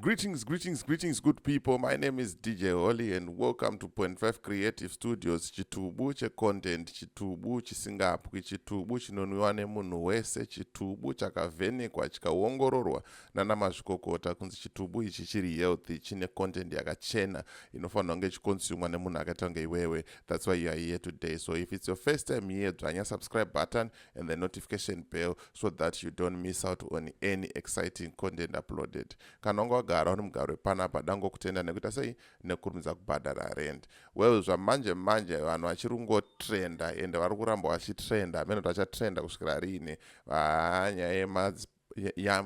Greetings, greetings, greetings, good people. My name is DJ Holly, and welcome to Point Five Creative Studios. Chitubu che content, chitubu chisingapwi, chitubu chinonwiwa nemunhu wese, chitubu chakavhenekwa chikaongororwa nana mazvikokota kunzi chitubu ichi chiri healthy, chine content yakachena inofanirwa kunge ichikonsumwa nemunhu akaita kunge iwewe. That's why you are here today. So if it's your first time here, dzvanya subscribe button, and the notification bell so that you don't miss out on any exciting content uploaded kana wanga wagara uri mugaro wepanapa dangokutenda nekuita sei nekurumidza kubhadhara rend well zvamanje manje vanhu vachiri kungotrenda ende vari kuramba vachitrenda hameno tachatrenda kusvikira riine ah, nyaya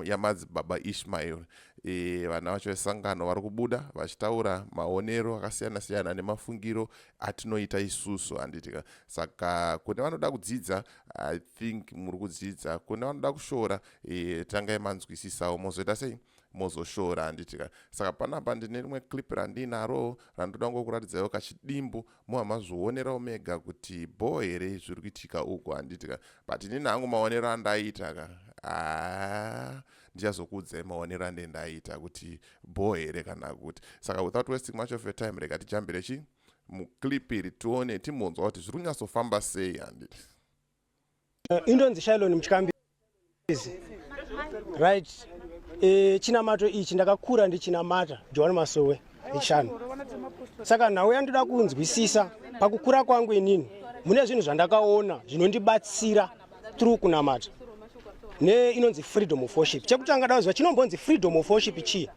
yamadzibaba ya, ya ishmael e, vana vacho vesangano vari kubuda vachitaura maonero akasiyana siyana nemafungiro atinoita isusu handitika saka kune vanoda kudzidza i think muri kudzidza kune vanoda kushora e, tangai manzwisisawo mozoita sei mozoshora handitika saka panapa ndine rimwe clip randinaro randoda ngokuratidzaiwo kachidimbu moa mazvionerawo mega kuti bhoo here zviri kuitika uku handiti ka but inini hangu maonero andaita ka haa ndichazokuudzai maonero ande ndaita kuti bhoo here kana kuti saka without wasting much of your time rega tijambire chii muclip iri tione timbonzwa kuti zviri kunyatsofamba sei handiti Eh, indonzi shilon mutyammbizi right eh, chinamato ichi ndakakura ndichinamata johani masowe echishanu saka nhau yandoda kunzwisisa pakukura kwangu inini mune zvinhu zvandakaona zvinondibatsira through kunamata ne inonzi freedom of worship chekutanga daziva chinombonzi freedom of worship chii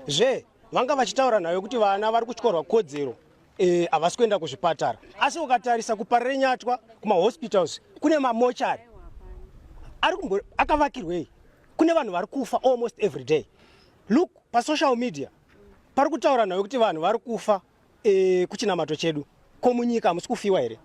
zve vanga vachitaura nhau yekuti vana vari kutyorwa kodzero Eh, havasi e, kuenda kuzvipatara asi ukatarisa kuparenyatwa kumahospitals kune mamochari akavakirwei kune vanhu vari kufa almost every day look pasocial media pari kutaura nhau yekuti vanhu vari kufa e, kuchinamato chedu ko munyika hamusi kufiwa here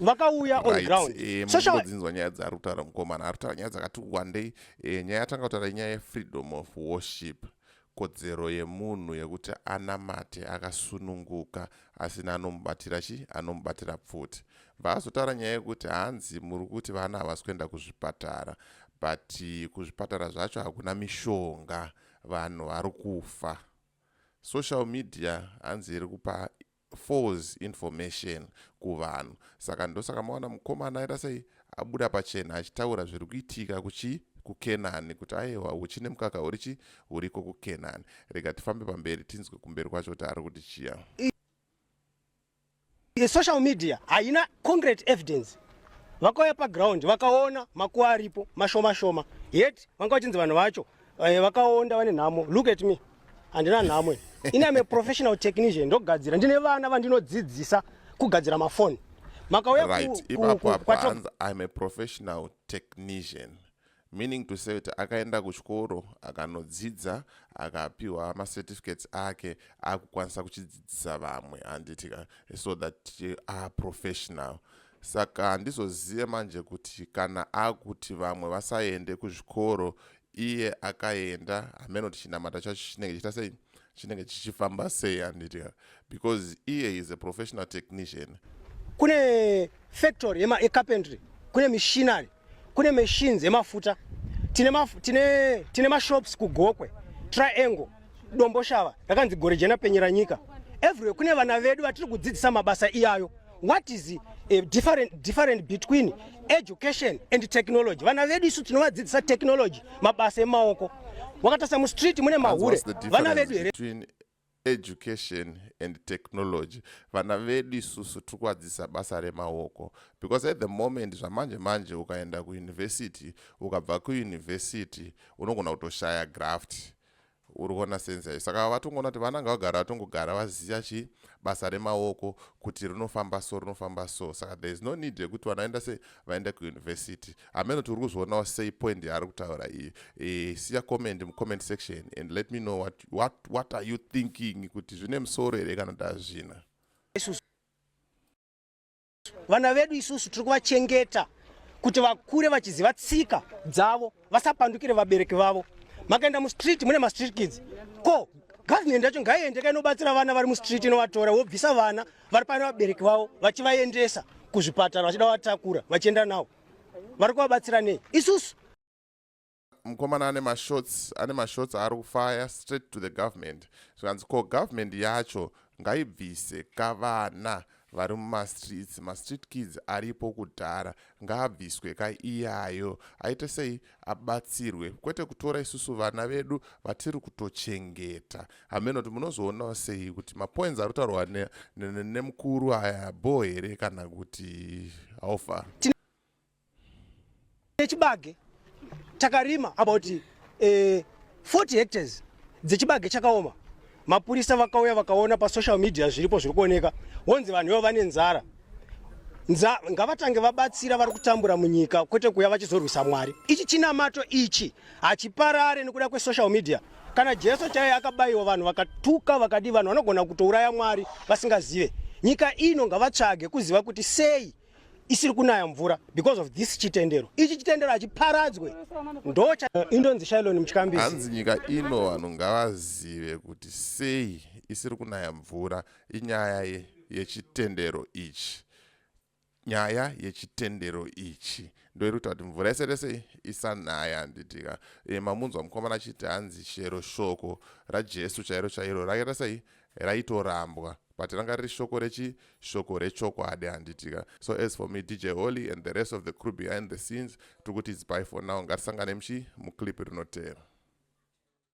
vakauya on ground eh, mudzinzwa nyaya dzaari kutaura mukomana ari kutaura nyaya dzakati wandei eh, nyaya yatanga kutaura inyaya yefreedom of worship kodzero yemunhu yekuti anamate akasununguka asina anomubatira chi anomubatira pfuti vaazotaura nyaya yekuti hanzi muri kuti vana havasi kuenda kuzvipatara but kuzvipatara zvacho hakuna mishonga vanhu vari kufa social media hanzi iri kupa false information kuvanhu saka ndosaka maona mukomana aita sei abuda pachena achitaura zviri kuitika kuchii kukenani kuti aiwa huchine mukaka huri chi huriko kukenani rega tifambe pamberi tinzwe kumberi kwacho kuti ari kuti chiya social media haina concrete evidence vakauya paground vakaona makuwa aripo mashoma shoma yet vanga vachinzi vanhu vacho Eh, vakaonda vane nhamo look at me handina nhamo ini am a professional technician ndogadzira ndine vana vandinodzidzisa kugadzira mafoni makauya right ipapo apo hanzi im a professional technician meaning to say kuti akaenda kuchikoro akanodzidza akapiwa macertificates ake akukwanisa kuchidzidzisa vamwe handiti ka so that are professional Saka handizozive manje kuti kana akuti vamwe vasaende kuzvikoro iye akaenda hameno kuti chinamata chacho chinenge chiita sei chinenge chichifamba sei handiti because iye is a professional technician kune factory yecarpentry kune mishinary kune machines emafuta tine, maf tine, tine mashops kugokwe triangle domboshava rakanzi gore jena penyera nyika everywhere kune vana vedu vatiri kudzidzisa mabasa iyayo what is a different, different between education and technology vana vedu isu tinovadzidzisa technology mabasa emaoko wakatasa mustreet mune mahure vana vedu here education and technology vana vedu isusu tiri kuadzisa basa remaoko because at the moment zvamanje manje ukaenda kuuniversity ukabva kuuniversity unogona kutoshaya graft uri kuona sense yayo saka vatongoona kuti vana ngavagara vatongogara vaziva chi basa remaoko kuti rinofamba so rinofamba so saka there is no need yekuti vanaenda se vaenda kuuniversity hameno tiri kuzvionawo sei point yaari kutaura iyi e, siya comment mucomment section and let me know what, what, what are you thinking kuti zvine musoro here kana tazvina vana vedu isusu tiri kuvachengeta kuti vakure vachiziva tsika dzavo vasapandukire vabereki vavo makaenda mustreet mune mastreet kids ko government yacho ngaiendeka inobatsira vana vari mustreet inovatora wobvisa vana vari pane vabereki vavo vachivaendesa kuzvipatara vachida vatakura vachienda nawo vari kuvabatsira nei isusu mukomana ane mashots ane mashots aari kufaya straight to the government zvikanzi ko government yacho ngaibvise kavana vari mumastreets mastreet kids aripo kudhara ngaabviswe ka iyayo aite sei abatsirwe kwete kutora isusu vana vedu vatiri kutochengeta hameno kuti munozoonawo sei kuti mapoints ari kutaurwa nemukuru ne, ne, ne aya bho here kana kuti haufa nechibage takarima about eh, 40 hectares dzechibage chakaoma mapurisa vakauya vakaona pasocial media zviripo zviri kuoneka wonzi vanhu ivo vane nzara nza ngavatange vabatsira vari kutambura munyika kwete kuya vachizorwisa mwari ichi chinamato ichi hachiparare nekuda kwesocial media kana jesu chaiye akabayiwa vanhu vakatuka vakadii vanhu vanogona kutouraya mwari vasingazive nyika ino ngavatsvage kuziva kuti sei isiri kunaya mvura because of this chitendero ichi chitendero hachiparadzwe ndocha eh, indonzi shailoni muchikambi hanzi nyika ino vanhu ngavazive kuti sei isiri kunaya mvura inyaya ye yechitendero ichi nyaya yechitendero ichi ndoiri kuita kuti mvura yese rese isanaya handitika e, mamunzwa mukomana achiti hanzi chero shoko rajesu chairo chairo rakaita sei raitorambwa but ranga riri shoko rechi shoko rechokwadi handiti ka so as for me dj holy and the rest of the crew behind the scenes tiri kuti its by for now ngatisangane muchi muclip rinoteera